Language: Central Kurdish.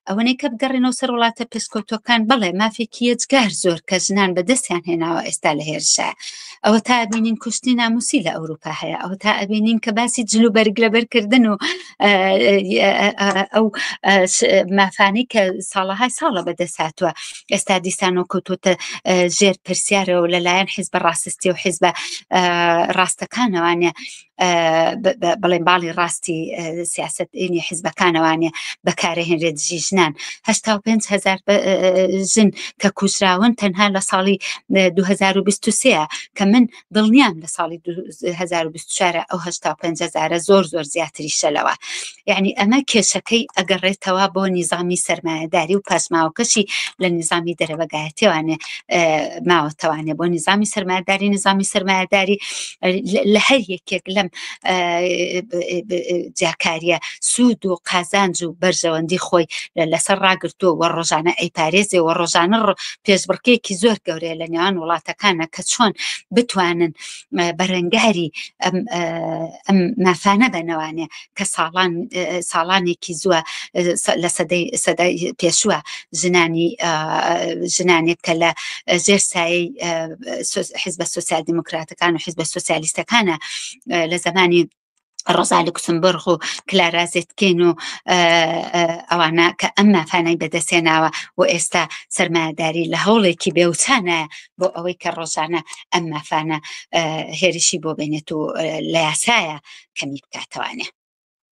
ئەوەنەی کە بگەڕێنەوە سەر وڵاتە پێسکۆتۆکان بڵێ مافێکی یەجگار زۆر کە ژنان بەدەستیان هێناوە ئێستا لە هێرشە ئەوە تا بینین کوشتنی ناموسی لە ئەوروپا هەیە ئەو تا ئەبینین کە باسی جلو بەرگ لەبەرکردن و ئەو مافانەی کە ساڵەهای ساڵە بەدەست هاتووە ئێستا دیسانەوە کەوتوتە ژێر پرسیارەوە لەلایەن حیزبە ڕاستستی و حیزبە ڕاستەکانەوانە بڵێن باڵی ڕاستی سیاست ئینی حیزبەکانەوانێ بەکارەهێنرێت دژی ژنان هشتا و پێنج هزار ژن کە کوژراون تەنها لە ساڵی 2023 کە من دڵنیام لە ساڵی 2024 ئەو هشتا و پێنج هزارە زۆر زۆر زیاتری شەلەوە یعنی ئەمە کێشەکەی ئەگەڕێتەوە بۆ نیزامی سرمایهداری و پاسماوەکەشی لە نیزامی دەرەبەگایەتێوانێ ماوەتەوانێ بۆ نیزامی سرمایهداری نیزامی سرمایهداری لە هەر یەکێک لەم جیاکاریە سوود و قازانج و بەرژەوەندی خۆی لەسەر ڕاگرتووە و ڕۆژانە ئەیپارێزێ و ڕۆژانە پێشبڕکێکی زۆر گەورەیە لە نێوان وڵاتەکانە کە چۆن بتوانن بەرەنگاری ئەم مافانە بەنەوانێ کە ساڵان ساڵانێکی زووە لە سەدەی سەدای پێشووە ژنانی ژنانێک کە لە ژێر سایی حزبە سوسیال دموکراتەکان و حزبە سوسیالیستەکانە لە زمانی ڕزا لوکسمبرغ و کلارازێتکەین و ئەوانە کە ئەم مافانای بەدەستێناوە و ئێستا سەرمایهداری لە هەوڵێکی بێوچانە بۆ ئەوەی کە ڕۆژانە ئەم مافانە هێرشی بۆ بێنێت و لە یاسایە کەمی بکاتەوانێ